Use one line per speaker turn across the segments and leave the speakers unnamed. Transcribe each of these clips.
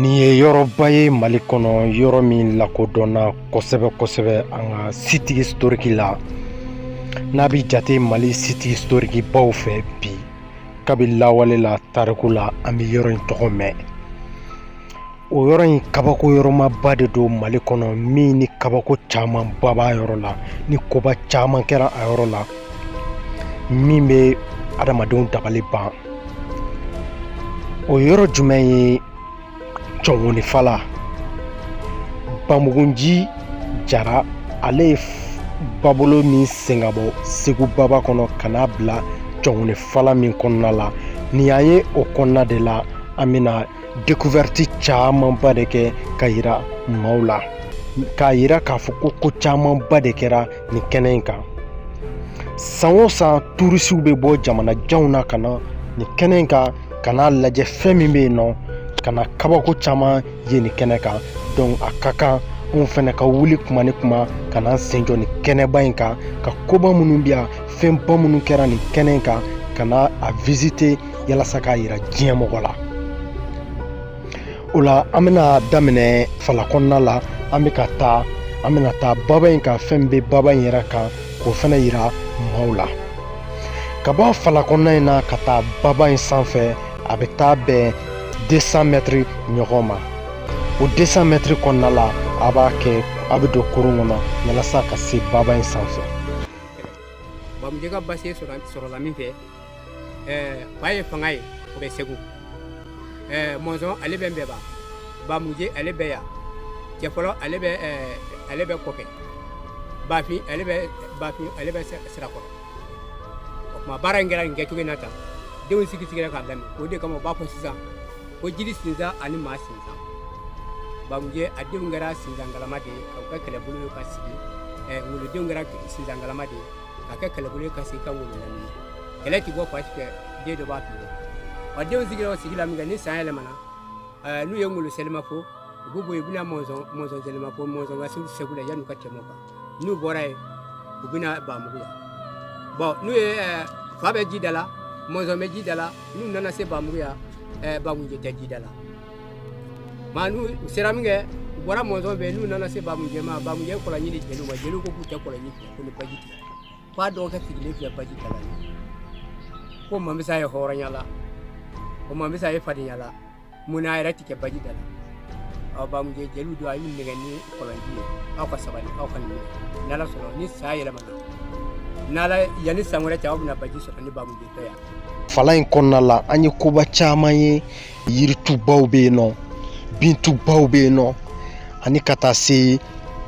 Nin ye yɔrɔba ye mali kɔnɔ yɔrɔ min lakodɔnna kosɛbɛ kosɛbɛ an ka site historique la n'a bɛ jate mali site historique baw fɛ bi kabi lawale la tariku la an bɛ yɔrɔ in tɔgɔ mɛn o yɔrɔ in kabako yɔrɔmaba de don mali kɔnɔ min ni kabako caman ba b'a yɔrɔ la ni koba caman kɛra a yɔrɔ la min bɛ adamadenw dabali ban o yɔrɔ jumɛn ye cɔngɔnifala bamugunji jara ale ye babolo min sen ka bɔ segu baba kɔnɔ ka n'a bila cɔngɔnifala min kɔnɔna la nin y'an ye o kɔnɔna de la an bɛna découverte camanba de kɛ ka yira maaw la k'a yira k'a fɔ ko ko camanba de kɛra nin kɛnɛ in kan san o san turisiw bɛ bɔ jamana janw na ka na nin kɛnɛ in kan ka n'a lajɛ fɛn min bɛ yen nɔ ka na kabako caman ye nin kɛnɛ kan donc a ka kan anw fɛnɛ ka wuli kuma ni kuma ka n'an sen jɔ nin kɛnɛba in kan ka koba minnu bɛ yan fɛnba minnu kɛra nin kɛnɛ in kan ka na a visiter yalasa k'a yira diɲɛ mɔgɔ la o la an bɛna daminɛ fala kɔnɔna la an bɛ ka taa an bɛna taa baba in kan fɛn bɛ baba in yɛrɛ kan k'o fɛnɛ yira maaw la ka bɔ fala kɔnɔna in na ka taa baba in sanfɛ a bɛ taa bɛn 200 mɛtiri ɲɔgɔn ma o 200 mɛtiri kɔnɔna la a b'a kɛ a bɛ don kurun kɔnɔ yalasa ka se baba in sanfɛ
bamujɛ ka basi sɔrɔla min fɛ ɛɛ fa ye fanga ye o bɛ segu ɛɛ mɔnzɔn ale bɛ nbɛba bamuje ale bɛ yan cɛfɔlɔ ale bɛ ɛɛ ale bɛ kɔkɛ bafin ale bɛ bafin ale bɛ sira- sirakɔrɔ o tuma baara in kɛra nin kɛcogo in na tan denw sigi sigira k'a lamini o de kama u b'a fɔ sisan ko jiri sinsan ani maa sinsan bamuje a denw kɛra sinsan galama de ye ka kɛ kɛlɛbolo ye ka sigi ɛɛ ngolo denw kɛra sinsan galama de ye ka kɛ kɛlɛbolo ye ka sigi ka ngolo lamini na kɛlɛ ti bɔ fan si fɛ den dɔ b'a tigɛ wa denw sigira o sigi la min kɛ ni san yɛlɛmana eh, n'u ye ngolo selima fo u b'u bɔ yen u bɛna mɔnsɔn mɔnsɔn selima fo mɔnsɔn ka se segu la yanni u ka tɛmɛ o kan n'u bɔra yen u bɛna bamugu la bon n'u ye eh, fa bɛ ji da la mɔnsɔn bɛ ji da la n'u nana se bamugu yan eh, bamunje tɛ ji da la maa n'u u sera min kɛ u bɔra mɔnsɔn fɛ n'u nana se bamunjɛ ma bamunjɛ kɔlɔnji di jeliw ma jeliw ko k'u tɛ kɔlɔnji fɛ ko ni baji tɛ ko a dɔgɔkɛ sigilen filɛ baji da la ko a man fisa a ye hɔrɔnya la ko a man fisa a ye fadenya la mun na a yɛrɛ tɛ kɛ baji da la aw bamujɛ jeliw don a y'u nɛgɛn ni kɔlɔnji ye aw ka sabali aw ka nin min n'ala sɔnna ni san yɛlɛmana n'ala yanni san wɛrɛ cɛ aw bɛna baji sɔrɔ ni bamujɛ tɛ yan fala in kɔnɔna
la an ye koba caman ye yiritubaw bɛ yen nɔ bintubaw bɛ yen nɔ ani ka taa se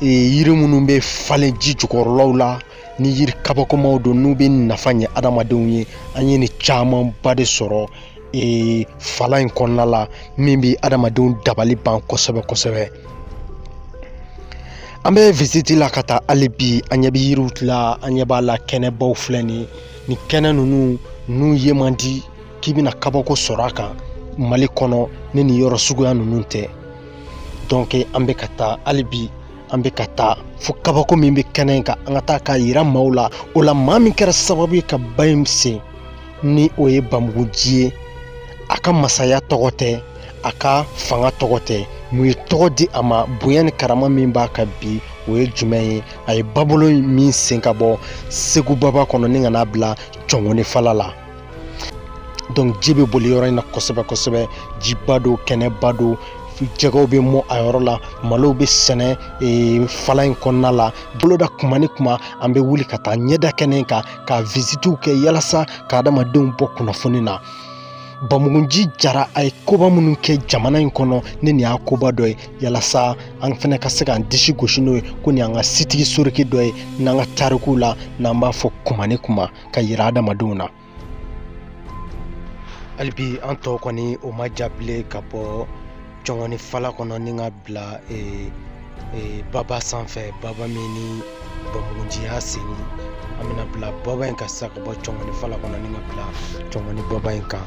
e, yiri minnu bɛ falen ji jukɔrɔlaw la ni yiri kabakomaw don n'u bɛ nafa ɲɛ adamadenw ye an ye nin camanba de sɔrɔ e, fala in kɔnɔna la min bɛ adamadenw dabali ban kosɛbɛ kosɛbɛ an bɛ visiti la ka taa hali bi an ɲɛ bɛ yiriw la an ɲɛ b'a la kɛnɛbaw filɛ nin ye nin kɛnɛ ninnu n'u ye man di k'i bɛna kabako sɔrɔ a kan mali kɔnɔ ni nin yɔrɔ suguya ninnu tɛ donc an bɛ ka taa hali bi an bɛ ka taa fo kabako min bɛ kɛnɛ in kan an ka taa k'a yira maaw la o la maa min kɛra sababu ye ka ba in sen ni o ye bamugunji ye a ka masaya tɔgɔ tɛ a ka fanga tɔgɔ tɛ mun ye tɔgɔ di a ma bonya ni karama min b'a kan bi o ye jumɛn ye a ye babolo min sen ka bɔ segu baba kɔnɔ ni ka n'a bila cɔngɔni fala la donc ji bɛ boli yɔrɔ in na kosɛbɛ kosɛbɛ jiba don kɛnɛba don jɛgɛw bɛ mɔ a yɔrɔ la malow bɛ sɛnɛ e, fala in kɔnɔna la boloda kuma ni kuma an bɛ wuli ka taa ɲɛda kɛnɛ kan ka visitiw kɛ yalasa ka adamadenw bɔ kunnafoni na bamugunji jara a ye koba minnu kɛ jamana in kɔnɔ ni nin y'a koba dɔ ye yalasa an fɛnɛ ka se k'an disi gosi n'o ye ko nin y'an ka site historique dɔ ye n'an ka tarikuw la n'an b'a fɔ kuma ni kuma ka yira adamadenw na hali bi an tɔ kɔni o ma ja bilen ka bɔ cɔngɔni fala kɔnɔ ni ka bila e, e, baba sanfɛ baba min ni bamugunji y'a sen ni an bɛna bila baba in kan sisan ka bɔ cɔngɔni fala kɔnɔ ni ka bila cɔngɔni baba in kan